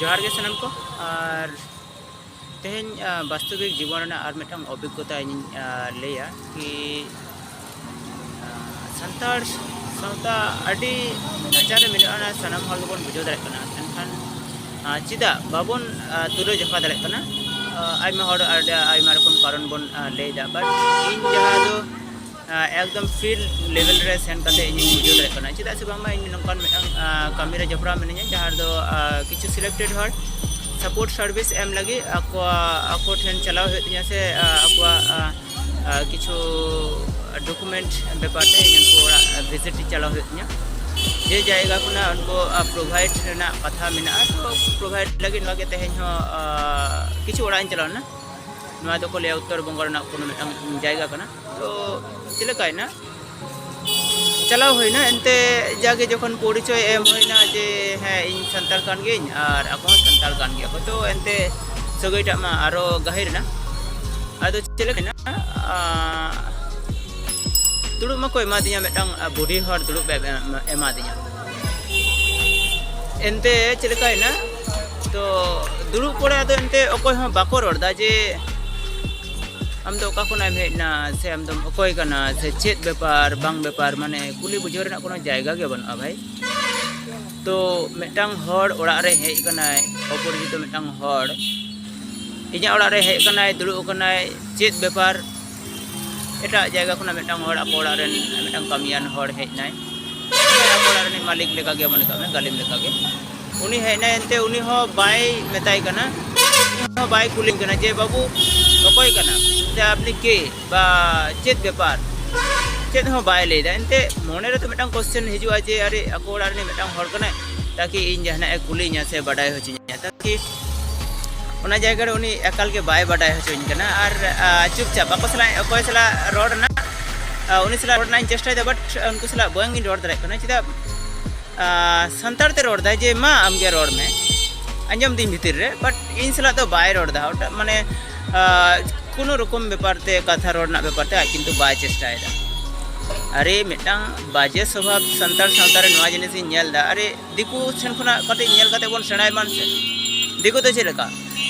ᱡᱚᱦᱟᱨ ᱜᱮ ᱥᱟᱱᱟᱢ ᱠᱚ ᱟᱨ ᱛᱮᱦᱮᱧ ᱵᱟᱥᱛᱚᱵᱤᱠ ᱡᱤᱵᱚᱱ ᱨᱮᱱᱟᱜ ᱟᱨ ᱢᱤᱫᱴᱟᱝ ᱚᱵᱷᱤᱜᱽᱜᱚᱛᱟ ᱤᱧᱤᱧ ᱞᱟᱹᱭᱟ ᱠᱤ ᱥᱟᱱᱛᱟᱲ ᱥᱟᱶᱛᱟ ᱟᱹᱰᱤ ᱱᱟᱪᱟᱨ ᱨᱮ ᱢᱮᱱᱟᱜᱼᱟ ᱚᱱᱟ ᱥᱟᱱᱟᱢ ᱦᱚᱲ ᱜᱮᱵᱚᱱ ᱵᱩᱡᱷᱟᱹᱣ ᱫᱟᱲᱮᱭᱟᱜ ᱠᱟᱱᱟ ᱢᱮᱱᱠᱷᱟᱱ ᱪᱮᱫᱟᱜ ᱵᱟᱵᱚᱱ ᱛᱩᱞᱟᱹ ᱡᱚᱠᱷᱟ ᱫᱟᱲᱮᱭᱟᱜ ᱠᱟᱱᱟ ᱟᱭᱢᱟ ᱦᱚᱲ ᱟᱹᱰᱤ ᱟᱭᱢᱟ ᱨᱚᱠᱚᱢ ᱠᱟᱨᱚᱱ ᱵᱚᱱ ᱞᱟᱹᱭᱫᱟ ᱵᱟᱴ ᱤᱧ ᱡᱟᱦᱟᱸ ᱫᱚ ᱮᱠᱫᱚᱢ ᱯᱷᱤᱞ ᱞᱮᱵᱮᱞ ᱨᱮ ᱥᱮᱱ ᱠᱟᱛᱮ ᱤᱧ ᱵᱩᱡᱷᱟᱹᱣ ᱫᱟᱲᱮᱭᱟᱜ ᱠᱟᱱᱟ ᱪᱮᱫᱟᱜ ᱥᱮ ᱵᱟᱝᱢᱟ ᱤᱧ ᱱᱚᱝᱠᱟᱱ ᱢᱤᱫᱴᱟᱝ ᱠᱟᱹᱢᱤ ᱨᱮ ᱡᱚᱯᱲᱟᱣ ᱢᱤᱱᱟᱹᱧᱟ ᱡᱟᱦᱟᱸ ᱨᱮᱫᱚ ᱠᱤᱪᱷᱩ ᱥᱤᱞᱮᱠᱴᱮᱰ ᱦᱚᱲ ᱥᱟᱯᱳᱨᱴ ᱥᱟᱨᱵᱷᱤᱥ ᱮᱢ ᱞᱟᱹᱜᱤᱫ ᱟᱠᱚᱣᱟᱜ ᱟᱠᱚ ᱴᱷᱮᱱ ᱪᱟᱞᱟᱣ ᱦᱩᱭᱩᱜ ᱛᱤᱧᱟ ᱥᱮ ᱟᱠᱚᱣᱟᱜ ᱠᱤᱪᱷᱩ ᱰᱚᱠᱩᱢᱮᱱᱴ ᱵᱮᱯᱟᱨ ᱛᱮ ᱤᱧ ᱩᱱᱠᱩ ᱚᱲᱟᱜ ᱵᱷᱤᱡᱤᱴ ᱪᱟᱞᱟᱣ ᱦᱩᱭᱩᱜ ᱛᱤᱧᱟ ᱡᱮ ᱡᱟᱭᱜᱟ ᱠᱷᱚᱱᱟᱜ ᱩᱱᱠᱩ ᱯᱨᱳᱵᱷᱟᱭᱤᱰ ᱨᱮᱱᱟᱜ ᱠᱟᱛᱷᱟ ᱢᱮᱱᱟᱜᱼᱟ ᱛᱚ ᱯᱨᱳᱵᱷᱟᱭᱤᱰ ᱞᱟᱹᱜᱤᱫ ᱱᱚᱣᱟ ᱜᱮ ᱛᱮᱦᱮᱧ ᱦᱚᱸ ᱠᱤᱪᱷᱩ ᱚᱲᱟᱜ ᱤᱧ ᱪᱟᱞᱟᱣ ᱞᱮᱱᱟ ᱱᱚᱣᱟ ᱫᱚᱠᱚ ᱞᱟᱹᱭᱟ ᱩᱛᱛᱚᱨ ᱵᱚᱝᱜᱚ ᱨᱮᱱᱟᱜ ᱠᱳᱱᱳ ᱢᱤᱫᱴᱟᱝ ᱡᱟᱭᱜᱟ ᱠᱟᱱᱟ ᱛᱚ ᱪᱮᱫ ᱞᱮᱠᱟᱭᱮᱱᱟ ᱪᱟᱞᱟᱣ ᱦᱩᱭᱱᱟ ᱮᱱᱛᱮ ᱡᱟᱜᱮ ᱡᱚᱠᱷᱚᱱ ᱯᱚᱨᱤᱪᱚᱭ ᱮᱢ ᱦᱩᱭᱱᱟ ᱡᱮ ᱦᱮᱸ ᱤᱧ ᱥᱟᱱᱛᱟᱲ ᱠᱟᱱ ᱜᱤᱭᱟᱹᱧ ᱟᱨ ᱟᱠᱚ ᱦᱚᱸ ᱥᱟᱱᱛᱟᱲ ᱠᱟᱱ ᱜᱮᱭᱟ ᱠᱚ ᱛᱚ ᱮᱱᱛᱮ ᱥᱟᱹᱜᱟᱹᱭᱴᱟᱜ ᱢᱟ ᱟᱨᱚ ᱜᱟᱹᱦᱤᱨ ᱮᱱᱟ ᱟᱫᱚ ᱪᱮᱫ ᱞᱮᱠᱟᱭᱮᱱᱟ ᱫᱩᱲᱩᱵ ᱢᱟᱠᱚ ᱮᱢᱟᱫᱤᱧᱟ ᱢᱤᱫᱴᱟᱝ ᱵᱩᱰᱷᱤ ᱦᱚᱲ ᱫᱩᱲᱩᱵ ᱮᱢᱟᱫᱤᱧᱟ ᱮᱱᱛᱮ ᱪᱮᱫ ᱞᱮᱠᱟᱭᱮᱱᱟ ᱛᱚ ᱫᱩᱲᱩᱵ ᱯᱚᱨᱮ ᱟᱫᱚ ᱮᱱᱛᱮ ᱚᱠᱚᱭ ᱦᱚᱸ ᱵᱟᱠᱚ ᱨᱚᱲᱫᱟ ᱡᱮ ᱟᱢ ᱫᱚ ᱚᱠᱟ ᱠᱷᱚᱱᱟᱜ ᱮᱢ ᱦᱮᱡ ᱮᱱᱟ ᱥᱮ ᱟᱢ ᱫᱚᱢ ᱚᱠᱚᱭ ᱠᱟᱱᱟ ᱥᱮ ᱪᱮᱫ ᱵᱮᱯᱟᱨ ᱵᱟᱝ ᱵᱮᱯᱟᱨ ᱢᱟᱱᱮ ᱠᱩᱞᱤ ᱵᱩᱡᱷᱟᱹᱣ ᱨᱮᱱᱟᱜ ᱠᱳᱱᱳ ᱡᱟᱭᱜᱟ ᱜᱮ ᱵᱟᱹᱱᱩᱜᱼᱟ ᱵᱷᱟᱭ ᱛᱚ ᱢᱤᱫᱴᱟᱝ ᱦᱚᱲ ᱚᱲᱟᱜ ᱨᱮ ᱦᱮᱡ ᱠᱟᱱᱟᱭ ᱚᱯᱚᱨᱤᱪᱤᱛᱚ ᱢᱤᱫᱴᱟᱝ ᱦᱚᱲ ᱤᱧᱟᱹᱜ ᱚᱲᱟᱜ ᱨᱮ ᱦᱮᱡ ᱠᱟᱱᱟᱭ ᱫᱩᱲᱩᱵ ᱠᱟᱱᱟᱭ ᱪᱮᱫ ᱵᱮᱯᱟᱨ ᱮᱴᱟᱜ ᱡᱟᱭᱜᱟ ᱠᱷᱚᱱᱟᱜ ᱢᱤᱫᱴᱟᱝ ᱦᱚᱲ ᱟᱠᱚ ᱚᱲᱟᱜ ᱨᱮᱱ ᱢᱤᱫᱴᱟᱝ ᱠᱟᱹᱢᱤᱭᱟᱱ ᱦᱚᱲ ᱦᱮᱡ ᱮᱱᱟᱭ ᱟᱠᱚ ᱚᱲᱟᱜ ᱨᱤᱱᱤᱡ ᱢᱟᱹᱞᱤᱠ ᱞᱮᱠᱟᱜᱮ ᱢᱚᱱᱮ ᱠᱟᱜ ᱢᱮ ᱜᱟᱹᱞᱤᱢ ᱞᱮᱠᱟᱜᱮ ᱩᱱᱤ ᱦᱮᱡ ᱮᱱᱟᱭ ᱮᱱᱛᱮ ᱩᱱᱤ ᱦᱚᱸ ᱵᱟᱭ ᱢᱮᱛᱟᱭ ᱠᱟᱱᱟ ᱦᱚᱸ ᱵᱟᱭ ᱠᱩᱞᱤ ᱠᱟᱱᱟ ᱡᱮ ᱵᱟᱹᱵᱩ ᱚᱠᱚᱭ ᱠᱟᱱᱟ ᱥᱮ ᱟᱯᱱᱤ ᱠᱮ ᱵᱟ ᱪᱮᱫ ᱵᱮᱯᱟᱨ ᱪᱮᱫ ᱦᱚᱸ ᱵᱟᱭ ᱞᱟᱹᱭᱫᱟ ᱮᱱᱛᱮ ᱢᱚᱱᱮ ᱨᱮ ᱛᱚ ᱢᱤᱫᱴᱟᱝ ᱠᱚᱥᱪᱮᱱ ᱦᱤᱡᱩᱜᱼᱟ ᱡᱮ ᱟᱨᱮ ᱟᱠᱚ ᱚᱲᱟᱜ ᱨᱤᱱᱤᱡ ᱢᱤᱫᱴᱟᱝ ᱦᱚᱲ ᱠᱟᱱᱟᱭ ᱛᱟᱠᱤ ᱤᱧ ᱡᱟᱦᱟᱱᱟᱜ ᱮ ᱠᱩᱞᱤᱧᱟ ᱥᱮ ᱵᱟᱰᱟᱭ ᱦᱚᱪᱚᱧᱟ ᱛᱟᱠᱤ ᱚᱱᱟ ᱡᱟᱭᱜᱟ ᱨᱮ ᱩᱱᱤ ᱮᱠᱟᱞ ᱜᱮ ᱵᱟᱭ ᱵᱟᱰᱟᱭ ᱦᱚᱪᱚᱧ ᱠᱟᱱᱟ ᱟᱨ ᱪᱩᱯᱪᱟᱯ ᱟᱠᱚ ᱥᱟᱞᱟᱜ ᱚᱠᱚᱭ ᱥᱟᱞᱟᱜ ᱨᱚᱲ ᱨᱮᱱᱟᱜ ᱩᱱᱤ ᱥᱟᱞᱟᱜ ᱨᱚᱲ ᱨᱮᱱᱟᱜ ᱤᱧ ᱪᱮᱥᱴᱟᱭᱮᱫᱟ ᱵᱟᱴ ᱩᱱᱠᱩ ᱥᱟᱞᱟᱜ ᱵᱟᱝᱤᱧ ᱨᱚᱲ ᱫᱟᱲᱮᱭᱟᱜ ᱠᱟᱱᱟ ᱪᱮᱫᱟᱜ ᱥᱟᱱᱛᱟᱲ ᱛᱮ ᱨᱚᱲ ᱫᱟᱭ ᱡᱮ ᱢᱟ ᱟᱢ ᱜᱮ ᱨᱚᱲ ᱢᱮ ᱟᱸᱡᱚᱢ ᱫᱤᱧ ᱵᱷᱤᱛᱤᱨ ᱨᱮ ᱵᱟᱴ ᱤᱧ ᱥᱟᱞᱟᱜ ᱫᱚ ᱵᱟᱭ ᱨᱚᱲ ᱫᱟ ᱚᱴᱟᱜ ᱢᱟᱱᱮ ᱠᱳᱱᱳ ᱨᱚᱠᱚᱢ ᱵᱮᱯᱟᱨ ᱛᱮ ᱠᱟᱛᱷᱟ ᱨᱚᱲ ᱨᱮᱱᱟᱜ ᱵᱮᱯᱟᱨ ᱛᱮ ᱟᱡ ᱠᱤᱱᱛᱩ ᱵᱟᱭ ᱪᱮᱥᱴᱟᱭᱮᱫᱟ ᱟᱨᱮ ᱢᱤᱫᱴᱟᱝ ᱵᱟᱡᱮ ᱥᱚᱵᱷᱟᱵ ᱥᱟᱱᱛᱟᱲ ᱥᱟᱶᱛᱟ ᱨᱮ ᱱᱚᱣᱟ ᱡᱤᱱᱤᱥ ᱤᱧ ᱧᱮᱞ ᱫᱟ ᱟᱨᱮ ᱫᱤᱠᱩ ᱴᱷᱮᱱ ᱠᱷᱚᱱᱟᱜ ᱠᱟᱹᱴᱤᱡ ᱧᱮᱞ ᱠᱟᱛᱮ ᱵᱚᱱ ᱥᱮᱬᱟᱭ ᱢᱟᱱ ᱥᱮ ᱫᱤᱠᱩ ᱫᱚ ᱪᱮᱫ ᱞᱮᱠᱟ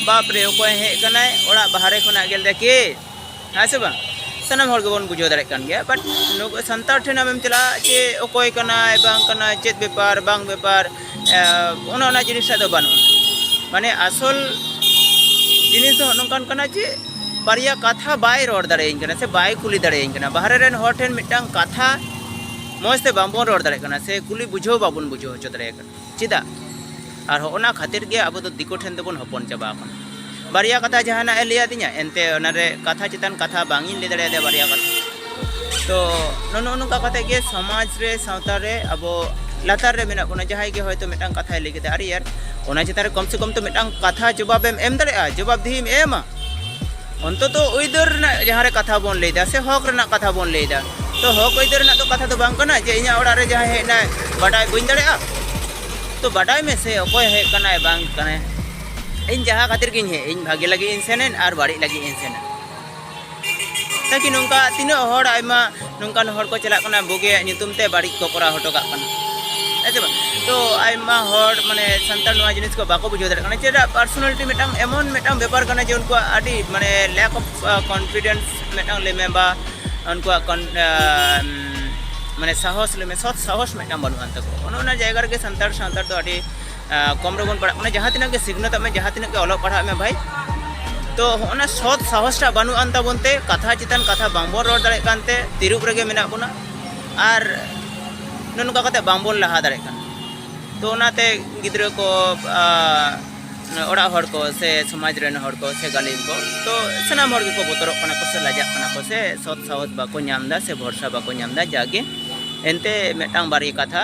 ᱵᱟᱯ ᱨᱮ ᱚᱠᱚᱭ ᱦᱮᱡ ᱠᱟᱱᱟᱭ ᱚᱲᱟᱜ ᱵᱟᱦᱨᱮ ᱠᱷᱚᱱᱟᱜ ᱜᱮᱞ ᱫᱟ ᱠᱮ ᱦᱮᱸ ᱥᱮ ᱵᱟᱝ ᱥᱟᱱᱟᱢ ᱦᱚᱲ ᱜᱮᱵᱚᱱ ᱵᱩᱡᱷᱟᱹᱣ ᱫᱟᱲᱮᱭᱟᱜ ᱠᱟᱱ ᱜᱮᱭᱟ ᱵᱟᱴ ᱥᱟᱱᱛᱟᱲ ᱴᱷᱮᱱ ᱟᱢᱮᱢ ᱪᱟᱞᱟᱜᱼᱟ ᱡᱮ ᱚᱠᱚᱭ ᱠᱟᱱᱟᱭ ᱵᱟᱝ ᱠᱟᱱᱟᱭ ᱪᱮᱫ ᱵᱮᱯᱟᱨ ᱵᱟᱝ ᱵᱮᱯᱟᱨ ᱚᱱᱟ ᱚᱱᱟ ᱡᱤᱱᱤᱥ ᱫᱚ ᱵᱟᱹᱱᱩᱜᱼᱟ ᱢᱟᱱᱮ ᱟᱥᱚᱞ ᱡᱤᱱᱤᱥ ᱫᱚ ᱱᱚᱝᱠᱟᱱ ᱠᱟᱱᱟ ᱡᱮ ᱵᱟᱨᱭᱟ ᱠᱟᱛᱷᱟ ᱵᱟᱭ ᱨᱚᱲ ᱫᱟᱲᱮᱭᱟᱹᱧ ᱠᱟᱱᱟ ᱥᱮ ᱵᱟᱭ ᱠᱩᱞᱤ ᱫᱟᱲᱮᱭᱟᱹᱧ ᱠᱟᱱᱟ ᱵᱟᱦᱨᱮ ᱨᱮᱱ ᱦᱚᱲ ᱴᱷᱮᱱ ᱢᱤᱫᱴᱟᱝ ᱠᱟᱛᱷᱟ ᱢᱚᱡᱽ ᱛᱮ ᱵᱟᱝᱵᱚᱱ ᱨᱚᱲ ᱫᱟᱲᱮᱭᱟᱜ ᱠᱟᱱᱟ ᱥᱮ ᱠᱩᱞᱤ ᱵᱩᱡᱷᱟᱹᱣ ᱵᱟᱵᱚᱱ ᱵᱩᱡᱷᱟᱹᱣ ᱦᱚᱪᱚ ᱫᱟᱲᱮᱭᱟᱜ ᱠᱟᱱᱟ ᱪᱮᱫᱟᱜ ᱟᱨ ᱦᱚᱸ ᱚᱱᱟ ᱠᱷᱟᱹᱛᱤᱨ ᱜᱮ ᱟᱵᱚ ᱫᱚ ᱫᱤᱠᱩ ᱴᱷᱮᱱ ᱫᱚᱵᱚᱱ ᱦᱚᱯᱚᱱ ᱪᱟᱵᱟ ᱟᱠᱟᱱᱟ ᱵᱟᱨᱭᱟ ᱠᱟᱛᱷᱟ ᱡᱟᱦᱟᱱᱟᱜ ᱮ ᱞᱟᱹᱭ ᱟᱫᱤᱧᱟ ᱮᱱᱛᱮ ᱚᱱᱟ ᱨᱮ ᱠᱟᱛᱷᱟ ᱪᱮᱛᱟᱱ ᱠᱟᱛᱷᱟ ᱵᱟᱝ ᱤᱧ ᱞᱟᱹᱭ ᱫᱟᱲᱮᱭᱟᱫᱟ ᱵᱟᱨᱭᱟ ᱠᱟᱛᱷᱟ ᱛᱚ ᱱᱚᱱᱚ ᱱᱚᱝᱠᱟ ᱠᱟᱛᱮ ᱜᱮ ᱥᱚᱢᱟᱡᱽ ᱨᱮ ᱥᱟᱶᱛᱟ ᱨᱮ ᱟᱵᱚ ᱞᱟᱛᱟᱨ ᱨᱮ ᱢᱮᱱᱟᱜ ᱵᱚᱱᱟ ᱡᱟᱦᱟᱸᱭ ᱜᱮ ᱦᱚᱭᱛᱚ ᱢᱤᱫᱴᱟᱝ ᱠᱟᱛᱷᱟᱭ ᱞᱟᱹᱭ ᱠᱮᱫᱟ ᱟᱨᱮ ᱭᱟᱨ ᱚᱱᱟ ᱪᱮᱛᱟᱱ ᱨᱮ ᱠᱚᱢ ᱥᱮ ᱠᱚᱢ ᱛᱚ ᱢᱤᱫᱴᱟᱝ ᱠᱟᱛᱷᱟ ᱡᱚᱵᱟᱵᱮᱢ ᱮᱢ ᱫᱟᱲᱮᱭᱟᱜᱼᱟ ᱡᱚᱵᱟᱵᱽ ᱫᱤᱦᱤᱢ ᱮᱢᱟ ᱚᱱᱛᱚᱛᱚ ᱟᱹᱭᱫᱟᱹᱨ ᱨᱮᱱᱟᱜ ᱡᱟᱦᱟᱸ ᱨᱮ ᱠᱟᱛᱷᱟ ᱵᱚᱱ ᱞᱟᱹᱭᱫᱟ ᱥᱮ ᱦᱚᱠ ᱨᱮᱱᱟᱜ ᱠᱟᱛᱷᱟ ᱵᱚᱱ ᱞᱟᱹᱭᱫᱟ ᱛᱚ ᱦᱚᱠ ᱟᱹᱭᱫᱟᱹᱨ ᱨᱮᱱᱟᱜ ᱫᱚ ᱠᱟᱛᱷᱟ ᱫᱚ ᱵᱟᱝ ᱠᱟᱱᱟ ᱡᱮ ᱤᱧᱟᱹᱜ ᱚᱲᱟᱜ ᱨᱮ ᱡᱟᱦᱟᱸᱭ ᱦᱮᱡ ᱮᱱᱟᱭ ᱵᱟᱰᱟᱭ ᱵᱟᱹᱧ ᱫᱟᱲᱮᱭᱟᱜᱼᱟ ᱛᱚ ᱵᱟᱰᱟᱭ ᱢᱮ ᱥᱮ ᱚᱠᱚᱭ ᱦᱮᱡ ᱠᱟᱱᱟᱭ ᱵᱟᱝ ᱠᱟᱱᱟᱭ ᱤᱧ ᱡᱟᱦᱟᱸ ᱠᱷᱟᱹᱛᱤᱨ ᱜᱤᱧ ᱦᱮᱡ ᱤᱧ ᱵᱷᱟᱜᱮ ᱞᱟᱹᱜᱤᱫ ᱤᱧ ᱥᱮᱱ ᱮᱱ ᱟᱨ ᱵᱟᱹᱲᱤᱡ ᱞᱟᱹᱜᱤᱫ ᱤᱧ ᱥᱮᱱ ᱮᱱ ᱛᱟᱠᱤ ᱱᱚᱝᱠᱟ ᱛᱤᱱᱟᱹᱜ ᱦᱚᱲ ᱟᱭᱢᱟ ᱱᱚᱝᱠᱟᱱ ᱦᱚᱲ ᱠᱚ ᱪᱟᱞᱟᱜ ᱠᱟᱱᱟ ᱵᱩᱜᱤᱭᱟᱜ ᱧᱩᱛᱩᱢ ᱛᱮ ᱵᱟᱹᱲᱤᱡ ᱠᱚ ᱠᱚᱨᱟᱣ ᱦᱚᱴᱚ ᱠᱟᱜ ᱠᱟᱱᱟ ᱦᱮᱸ ᱥᱮ ᱵᱟᱝ ᱛᱚ ᱟᱭᱢᱟ ᱦᱚᱲ ᱢᱟᱱᱮ ᱥᱟᱱᱛᱟᱲ ᱱᱚᱣᱟ ᱡᱤᱱᱤᱥ ᱠᱚ ᱵᱟᱠᱚ ᱵᱩᱡᱷᱟᱹᱣ ᱫᱟᱲᱮᱭᱟᱜ ᱠᱟᱱᱟ ᱪᱮᱫᱟᱜ ᱯᱟᱨᱥᱚᱱᱟᱞᱤᱴᱤ ᱢᱤᱫᱴᱟᱝ ᱮᱢᱚᱱ ᱢᱤᱫᱴᱟᱝ ᱵᱮᱯᱟᱨ ᱠᱟᱱᱟ ᱡᱮ ᱩᱱᱠᱩᱣᱟᱜ ᱟᱹᱰᱤ ᱢᱟᱱᱮ ᱞᱮᱠ ᱚᱯᱷ ᱠᱚᱱᱯᱷᱤᱰᱮᱱᱥ ᱢᱤᱫᱴᱟᱝ ᱞᱟᱹᱭ ᱢᱮ ᱵᱟ ᱩᱱᱠᱩᱣᱟᱜ ᱢᱟᱱᱮ ᱥᱟᱦᱚᱥ ᱞᱟᱹᱭ ᱢᱮ ᱥᱚᱛ ᱥᱟᱦᱚᱥ ᱢᱤᱫᱴᱟᱝ ᱵᱟᱹᱱᱩᱜ ᱟᱱ ᱛᱟᱠᱚᱣᱟ ᱚᱱᱮ ᱚᱱᱟ ᱡᱟᱭᱜᱟ ᱨᱮᱜᱮ ᱥᱟᱱᱛᱟᱲ ᱥᱟᱶᱛᱟ ᱫᱚ ᱟᱹᱰᱤ ᱠᱚᱢ ᱨᱮᱵᱚᱱ ᱯᱟᱲᱦᱟᱜ ᱢᱟᱱᱮ ᱡᱟᱦᱟᱸ ᱛᱤᱱᱟᱹᱜ ᱜᱮ ᱥᱤᱠᱷᱱᱟᱹᱛ ᱢᱮ ᱡᱟᱦᱟᱸ ᱛᱤᱱᱟᱹᱜ ᱜᱮ ᱚᱞᱚᱜ ᱯᱟᱲᱦᱟᱜ ᱢᱮ ᱵᱷᱟᱭ ᱛᱚ ᱚᱱᱟ ᱥᱚᱛ ᱥᱟᱦᱚᱥᱴᱟ ᱵᱟᱹᱱᱩᱜ ᱟᱱ ᱛᱟᱵᱚᱱ ᱛᱮ ᱠᱟᱛᱷᱟ ᱪᱮᱛᱟᱱ ᱠᱟᱛᱷᱟ ᱵᱟᱝᱵᱚᱱ ᱨᱚᱲ ᱫᱟᱲᱮᱭᱟᱜ ᱠᱟᱱ ᱛᱮ ᱛᱤᱨᱩᱵ ᱨᱮᱜᱮ ᱢᱮᱱᱟᱜ ᱵᱚᱱᱟ ᱟᱨ ᱱᱚᱝᱠᱟ ᱠᱟᱛᱮ ᱵᱟᱝᱵᱚᱱ ᱞᱟᱦᱟ ᱫᱟᱲᱮᱭᱟᱜ ᱠᱟᱱᱟ ᱛᱚ ᱚᱱᱟᱛᱮ ᱜᱤᱫᱽᱨᱟᱹ ᱠᱚ ᱚᱲᱟᱜ ᱦᱚᱲ ᱠᱚ ᱥᱮ ᱥᱚᱢᱟᱡᱽ ᱨᱮᱱ ᱦᱚᱲ ᱠᱚ ᱥᱮ ᱜᱟᱹᱞᱤᱢ ᱠᱚ ᱛᱚ ᱥᱟᱱᱟᱢ ᱦᱚᱲ ᱜᱮᱠᱚ ᱵᱚᱛᱚᱨᱚᱜ ᱠᱟᱱᱟ ᱠᱚ ᱥᱮ ᱞᱟᱡᱟᱜ ᱠᱟᱱᱟ ᱠᱚ ᱥᱮ ᱥᱚᱛ ᱥᱟᱦᱚᱥ ᱵᱟᱠᱚ ᱧᱟᱢ ᱮᱫᱟ ᱥᱮ ᱵᱷᱚᱨᱥᱟ ᱵᱟᱠᱚ ᱧᱟᱢ ᱮᱫᱟ ᱡᱟᱜᱮ ᱮᱱᱛᱮ ᱢᱤᱫᱴᱟᱝ ᱵᱟᱨᱭᱟ ᱠᱟᱛᱷᱟ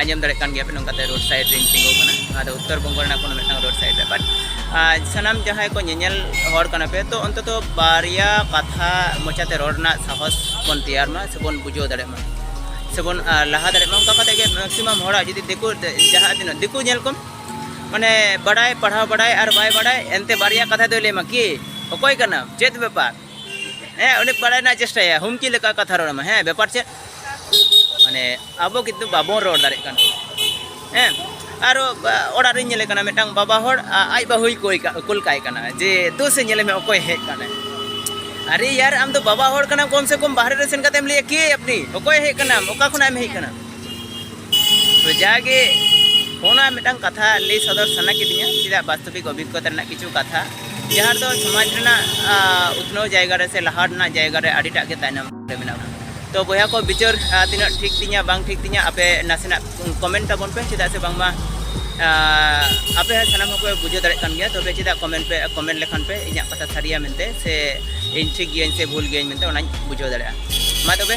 ᱟᱸᱡᱚᱢ ᱫᱟᱲᱮᱭᱟᱜ ᱠᱟᱱ ᱜᱮᱭᱟ ᱯᱮ ᱱᱚᱝᱠᱟᱛᱮ ᱨᱳᱰ ᱥᱟᱭᱤᱰ ᱨᱮᱧ ᱛᱤᱸᱜᱩ ᱠᱟᱱᱟ ᱱᱚᱣᱟ ᱫᱚ ᱩᱛᱛᱚᱨ ᱵᱚᱝᱜᱚ ᱨᱮᱱᱟᱜ ᱠᱳᱱᱳ ᱢᱤᱫᱴᱟᱝ ᱨᱳᱰ ᱥᱟᱭᱤᱰ ᱨᱮ ᱵᱟᱴ ᱥᱟᱱᱟᱢ ᱡᱟᱦᱟᱸᱭ ᱠᱚ ᱧᱮᱧᱮᱞ ᱦᱚᱲ ᱠᱟᱱᱟ ᱯᱮ ᱛᱚ ᱚᱱᱛᱚᱛᱚ ᱵᱟᱨᱭᱟ ᱠᱟᱛᱷᱟ ᱢᱚᱪᱟᱛᱮ ᱨᱚᱲ ᱨᱮᱱᱟᱜ ᱥᱟᱦᱚᱥ ᱵᱚᱱ ᱛᱮᱭᱟᱨ ᱢᱟ ᱥᱮᱵᱚᱱ ᱵᱩᱡᱷᱟᱹᱣ ᱫᱟᱲᱮᱭᱟᱜ ᱢᱟ ᱥᱮᱵᱚᱱ ᱞᱟᱦᱟ ᱫᱟᱲᱮᱭᱟᱜ ᱢᱟ ᱚᱱᱠᱟ ᱠᱟᱛᱮ ᱜᱮ ᱢᱮᱠᱥᱤᱢᱟᱢ ᱦᱚᱲᱟᱜ ᱡᱩᱫᱤ ᱫᱤᱠᱩ ᱡᱟᱦᱟᱸ ᱛᱤᱱᱟᱹᱜ ᱫᱤᱠᱩ ᱧᱮᱞ ᱠᱚᱢ ᱢᱟᱱᱮ ᱵᱟᱰᱟᱭ ᱯᱟᱲᱦᱟᱣ ᱵᱟᱰᱟᱭ ᱟᱨ ᱵᱟᱭ ᱵᱟᱰᱟᱭ ᱮᱱᱛᱮ ᱵᱟᱨᱭᱟ ᱠᱟᱛᱷᱟ ᱫᱚᱭ ᱞᱟᱹᱭ ᱟᱢᱟ ᱠᱤ ᱚᱠᱚᱭ ᱠᱟᱱᱟᱢ ᱪᱮᱫ ᱵᱮᱯᱟᱨ ᱦᱮᱸ ᱩᱱᱤ ᱵᱟᱲᱟᱭ ᱨᱮᱱᱟᱜ ᱪᱮᱥᱴᱟᱭᱟ ᱦᱩᱢᱠᱤ ᱞᱮᱠᱟ ᱠᱟᱛᱷᱟ ᱨᱚᱲ ᱢᱟ ᱦᱮᱸ ᱵᱮᱯᱟᱨ ᱪᱮᱫ ᱢᱟᱱᱮ ᱟᱵᱚ ᱠᱤᱱᱛᱩ ᱵᱟᱵᱚᱱ ᱨᱚᱲ ᱫᱟᱲᱮᱜ ᱠᱟᱱᱟ ᱦᱮᱸ ᱟᱨ ᱚᱲᱟᱜ ᱨᱤᱧ ᱧᱮᱞᱮ ᱠᱟᱱᱟ ᱢᱤᱫᱴᱟᱝ ᱵᱟᱵᱟ ᱦᱚᱲ ᱟᱡ ᱵᱟᱹᱦᱩᱭ ᱠᱚᱭ ᱠᱩᱞ ᱠᱟᱭ ᱠᱟᱱᱟ ᱡᱮ ᱛᱩ ᱥᱮ ᱧᱮᱞᱮ ᱢᱮ ᱚᱠᱚᱭ ᱦᱮᱡ ᱠᱟᱱᱟᱭ ᱟᱨᱮ ᱭᱟᱨ ᱟᱢ ᱫᱚ ᱵᱟᱵᱟ ᱦᱚᱲ ᱠᱟᱱᱟᱢ ᱠᱚᱢ ᱥᱮ ᱠᱚᱢ ᱵᱟᱦᱨᱮ ᱨᱮ ᱥᱮᱱ ᱠᱟᱛᱮᱢ ᱞᱟᱹᱭᱟ ᱠᱮ ᱟᱯᱱᱤ ᱚᱠᱚᱭ ᱦᱮᱡ ᱠᱟᱱᱟᱢ ᱚᱠᱟ ᱠᱷᱚᱱᱟᱜ ᱮᱢ ᱦᱮᱡ ᱠᱟᱱᱟ ᱛᱚ ᱡᱟᱜᱮ ᱚᱱᱟ ᱢᱤᱫᱴᱟᱝ ᱠᱟᱛᱷᱟ ᱞᱟᱹᱭ ᱥᱚᱫᱚᱨ ᱥᱟᱱᱟ ᱠᱤᱫᱤᱧᱟ ᱪᱮᱫᱟᱜ ᱵᱟᱥᱛᱚᱵᱤᱠ ᱚᱵᱷᱤᱜᱽᱜᱚᱛᱟ ᱨᱮᱱᱟᱜ ᱠᱤᱪᱷᱩ ᱠᱟᱛᱷᱟ ᱡᱟᱦᱟᱸ ᱫᱚ ᱥᱚᱢᱟᱡᱽ ᱨᱮᱱᱟᱜ ᱩᱛᱱᱟᱹᱣ ᱡᱟᱭᱜᱟ ᱨᱮ ᱥᱮ ᱞᱟᱦᱟ ᱨᱮᱱᱟᱜ ᱡᱟᱭᱜᱟ ᱨᱮ ᱟᱹᱰᱤᱴᱟᱜ ᱜᱮ ᱛᱟᱭᱱᱚᱢ ᱨᱮ ᱢᱮᱱᱟᱜ ᱵᱚᱱᱟ ᱛᱚ ᱵᱚᱭᱦᱟ ᱠᱚ ᱵᱤᱪᱟᱹᱨ ᱛᱤᱱᱟᱹᱜ ᱴᱷᱤᱠ ᱛᱤᱧᱟ ᱵᱟᱝ ᱴᱷᱤᱠ ᱛᱤᱧᱟ ᱟᱯᱮ ᱱᱟᱥᱮᱱᱟᱜ ᱠᱚᱢᱮᱱᱴ ᱛᱟᱵᱚᱱ ᱯᱮ ᱪᱮᱫᱟᱜ ᱥᱮ ᱵᱟᱝᱢᱟ ᱟᱯᱮ ᱦᱚᱸ ᱥᱟᱱᱟᱢ ᱦᱚᱸᱯᱮ ᱵᱩᱡᱷᱟᱹᱣ ᱫᱟᱲᱮᱭᱟᱜ ᱠᱟᱱ ᱜᱮᱭᱟ ᱛᱚᱵᱮ ᱪᱮᱫᱟᱜ ᱠᱚᱢᱮᱱᱴ ᱯᱮ ᱠᱚᱢᱮᱱᱴ ᱞᱮᱠᱷᱟᱱ ᱯᱮ ᱤᱧᱟᱹᱜ ᱠᱟᱛᱷᱟ ᱥᱟᱹᱨᱤᱭᱟ ᱢᱮᱱᱛᱮ ᱥᱮ ᱤᱧ ᱴᱷᱤᱠ ᱜᱤᱭᱟᱹᱧ ᱥᱮ ᱵᱷᱩᱞ ᱜᱤᱭᱟᱹᱧ ᱢᱮᱱᱛᱮ ᱚᱱᱟᱧ ᱵᱩᱡᱷᱟᱹᱣ ᱫᱟᱲᱮᱭᱟᱜᱼᱟ ᱢᱟ ᱛᱚᱵᱮ